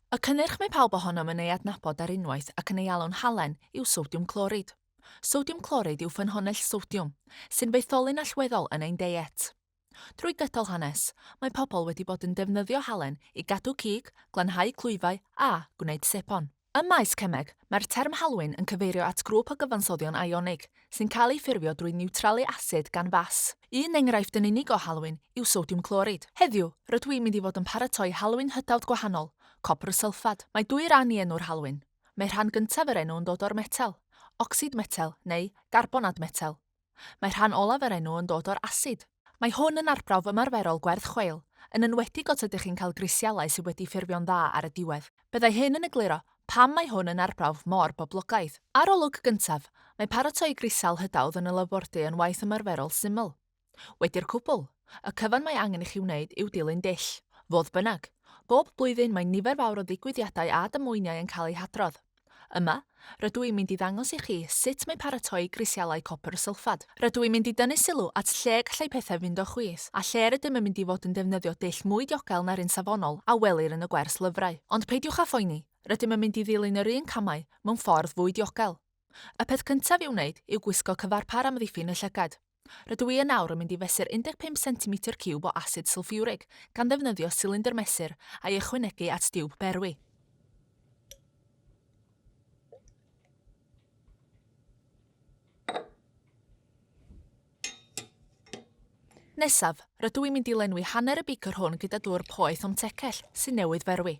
Y cynnyrch mae pawb ohonom yn ei adnabod ar unwaith ac yn ei alw'n halen yw sodiwm clorid. Sodiwm clorid yw ffynhonnell sodiwm, sy'n faetholyn allweddol yn ein deiet. Drwy gydol hanes, mae pobl wedi bod yn defnyddio halen i gadw cig, glanhau clwyfau a gwneud sebon. Ym maes cemeg, mae'r term halwyn yn cyfeirio at grŵp o gyfansoddion ionig sy'n cael eu ffurfio drwy niwtralu asid gan fas. Un enghraifft yn unig o halwyn yw sodiwm clorid. Heddiw, rydw i'n mynd i fod yn paratoi halwyn hytawd gwahanol, copr sylffad. Mae dwy ran i enw'r halwyn. Mae rhan gyntaf yr enw yn dod o'r metel, ocsid metel neu garbonad metel. Mae rhan olaf yr enw yn dod o'r asid. Mae hwn yn arbrawf ymarferol gwerth chweil, yn enwedig os ydych chi'n cael grisialau sydd wedi ffurfio'n dda ar y diwedd. Byddai hyn yn egluro pam mae hwn yn arbrawf mor boblogaidd. Arolwg gyntaf, Mae paratoi grisial hydawdd yn y labordy yn waith ymarferol syml. Wedi'r cwbl, y cyfan mae angen i chi wneud yw dilyn dull. Fodd bynnag, bob blwyddyn mae nifer fawr o ddigwyddiadau a damweiniau yn cael eu hadrodd. Yma, rydw i'n mynd i ddangos i chi sut mae paratoi grisialau copr sylffad. Rydw i'n mynd i dynnu sylw at lle y gallai pethau fynd o chwys, a lle rydym yn mynd i fod yn defnyddio dull mwy diogel na'r un safonol a welir yn y gwers lyfrau. Ond peidiwch â phoeni, rydym yn mynd i ddilyn yr un camau mewn ffordd fwy diogel. Y peth cyntaf i'w wneud yw gwisgo cyfarpar amddiffyn y llygad. Rydw i yn awr yn mynd i fesur 15 centimetr ciwb o asid sylffiwrig, gan ddefnyddio silindr mesur, a'i ychwanegu at diwb berwi. Nesaf, rydw i'n mynd i lenwi hanner y beaker hwn gyda dŵr poeth o'm tecell, sy'n newydd ferwi.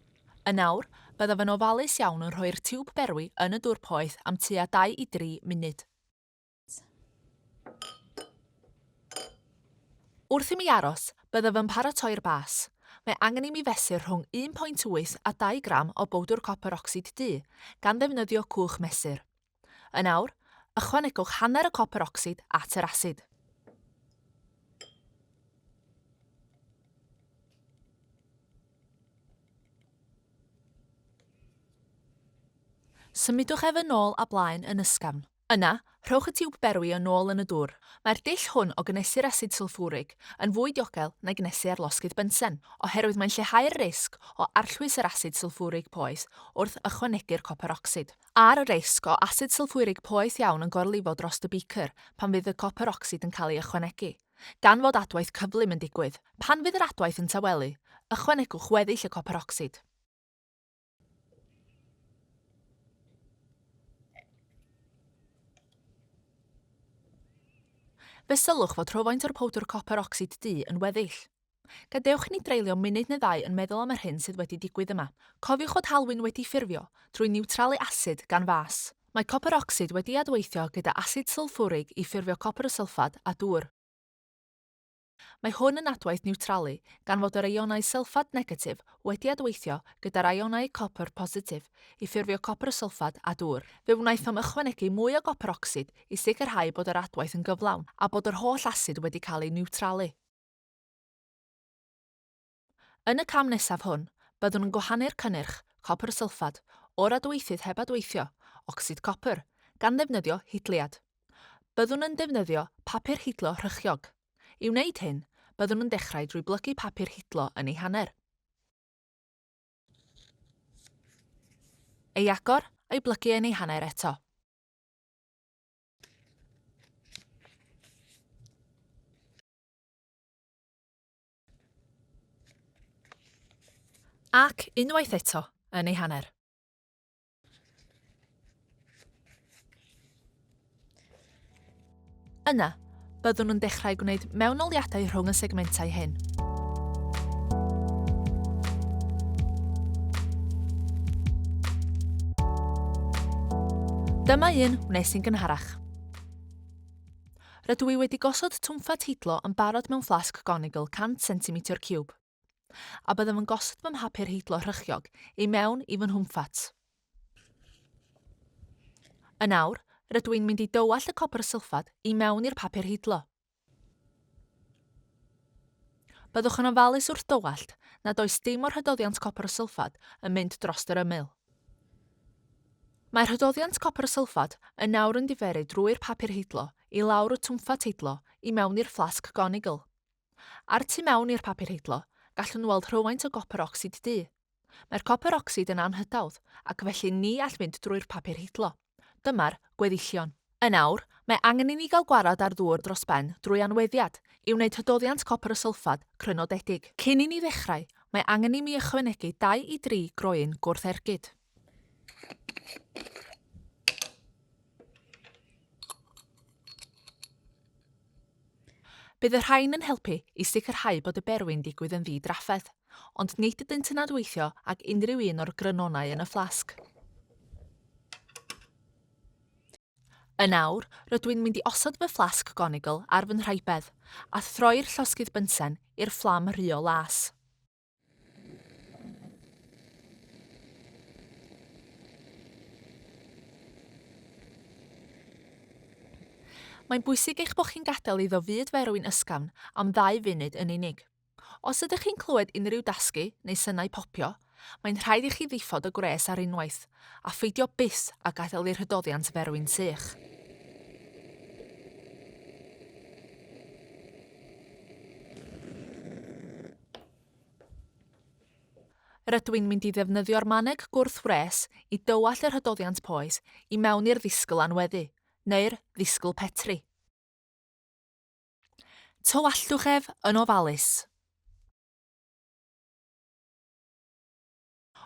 Yn awr, byddaf yn ofalus iawn yn rhoi'r tiwb berwi yn y dŵr poeth am tua 2 i 3 munud. Wrth i mi aros, byddaf yn paratoi'r bas. Mae angen i mi fesur rhwng 1.8 a 2 gram o bowdwr copr ocsid du, gan ddefnyddio cwch mesur. Yn awr, ychwanegwch hanner y copr ocsid at yr asid. Symudwch ef yn ôl a blaen yn ysgafn. Yna, rhowch y tiwb berwi yn ôl yn y dwr. Mae'r dull hwn o gynhesu'r asid sylffwrig yn fwy diogel na gynhesu ar losgydd bensen, oherwydd mae'n lleihau'r risg o arllwys yr asid sylffwrig poeth wrth ychwanegu'r copr ocsid. A'r risg o asid sylffwrig poeth iawn yn gorlifo dros y beaker pan fydd y copr ocsid yn cael ei ychwanegu, gan fod adwaith cyflym yn digwydd. Pan fydd yr adwaith yn tawelu, ychwanegwch weddill y copr ocsid. Fe sylwch fod rhywfaint o'r powdr copr ocsid du yn weddill. Gadewch ni dreulio munud neu ddau yn meddwl am yr hyn sydd wedi digwydd yma. Cofiwch fod halwyn wedi ffurfio drwy niwtralu asid gan fas. Mae copr ocsid wedi adweithio gyda asid sylffwrig i ffurfio copr sylffad a dŵr. Mae hwn yn adwaith niwtralu, gan fod yr eionau sylffad negatif wedi adweithio gyda'r eionau copr positif i ffurfio copr sylffad a dŵr. Fe wnaethom ychwanegu mwy o gopr ocsid i sicrhau bod yr adwaith yn gyflawn a bod yr holl asid wedi cael ei niwtralu. Yn y cam nesaf hwn, byddwn yn gwahanu'r cynnyrch copr sylffad o'r adweithydd heb adweithio, ocsid copr, gan ddefnyddio hidliad. Byddwn yn defnyddio papur hidlo rhychiog. I wneud hyn, byddwn yn dechrau drwy blygu papur hidlo yn ei hanner, ei agor a'i blygu yn ei hanner eto. Ac, unwaith eto, yn ei hanner. Yna, byddwn yn dechrau gwneud mewnoliadau rhwng y segmentau hyn. Dyma un wnes i'n gynharach. Rydw i wedi gosod twmfa teitlo yn barod mewn fflasg gonigl 100 centimetr ciwb, a byddaf yn gosod fy mhapur heitlo rhychiog i mewn i fy nhwmffat. Yn awr, rydw i'n mynd i dywallt y copr sylffad i mewn i'r papur heitlo. Byddwch yn ofalus wrth dywallt nad oes dim o'r hydoddiant copr sylffad yn mynd dros yr ymyl. Mae rhydoddiant copr sylffad yn nawr yn diferu drwy'r papur heidlo i lawr y twmffat heidlo i mewn i'r fflasg gonigl. A'r tu mewn i'r papur heidlo, gallwn weld rhywfaint o gopr ocsid du. Mae'r copr ocsid yn anhydawdd, ac felly ni all fynd drwy'r papur heidlo. Dyma'r gweddillion. Yn awr, mae angen i ni gael gwared â'r ddŵr dros ben drwy anweddiad, i wneud hydoddiant copr y sylffad crynodedig. Cyn i ni ddechrau, mae angen i mi ychwanegu dau i dri groen gwrth-ergyd. Bydd y rhain yn helpu i sicrhau bod y berwi'n digwydd yn ddi-drafferth, ond nid ydynt yn adweithio ag unrhyw un o'r grynonau yn y fflasg. Yn awr, rydw i'n mynd i osod fy fflasg gonigl ar fy nhraibedd, a throi'r llosgydd bynsen i'r fflam rhuo las. Mae'n bwysig eich bod chi'n gadael iddo fyd ferwyn ysgafn am ddau funud yn unig. Os ydych chi'n clywed unrhyw dasgu neu synau popio, mae'n rhaid i chi ddiffodd y gwres ar unwaith, a pheidio byth a gadael i'r hydoddiant ferwyn sych. Rydw i'n mynd i ddefnyddio'r maneg gwrth-wres i dywallt yr hydoddiant poes i mewn i'r ddisgl anweddu, neu'r ddisgl petri. Tywalltwch ef yn ofalus.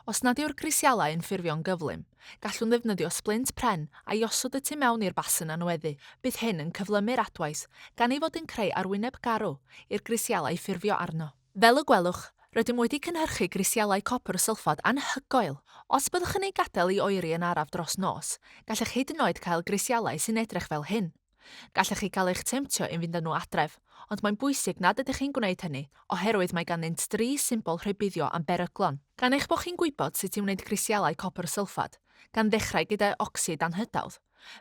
Os nad yw'r grisialau yn ffurfio'n gyflym, gallwn ddefnyddio sblint pren a'i osod y tu mewn i'r basen anweddu. Bydd hyn yn cyflymu'r adwaith, gan ei fod yn creu arwyneb garw i'r grisialau ffurfio arno. Fel y gwelwch, rydym wedi cynhyrchu grisialau copr sylffad anhygoel! Os byddwch yn eu gadael i oeri yn araf dros nos, gallech hyd yn oed cael grisialau sy'n edrych fel hyn. Gallech chi gael eich temtio i fynd â nhw adref, ond mae'n bwysig nad ydych chi'n gwneud hynny, oherwydd mae ganddynt dri symbol rhybuddio am beryglon. Gan eich bod chi'n gwybod sut i wneud grisialau copr sylffad, gan ddechrau gyda ocsid anhydawdd,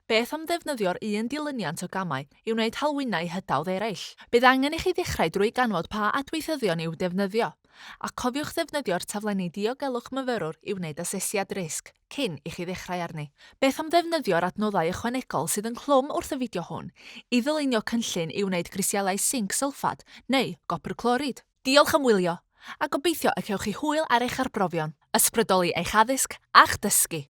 beth am ddefnyddio'r un dilyniant o gamau i wneud halwynau hydawdd eraill? Bydd angen i chi ddechrau drwy ganfod pa adweithyddion i'w defnyddio, a cofiwch ddefnyddio'r taflenni diogelwch myfyrwr i wneud asesiad risg. cyn i chi ddechrau arni. Beth am ddefnyddio'r adnoddau ychwanegol sydd ynghlwm wrth y fideo hwn i ddylunio cynllun i wneud grisialau sinc sylffad neu gopr clorid? Diolch am wylio, a gobeithio y cewch chi hwyl ar eich arbrofion, ysbrydoli eich addysg a'ch dysgu!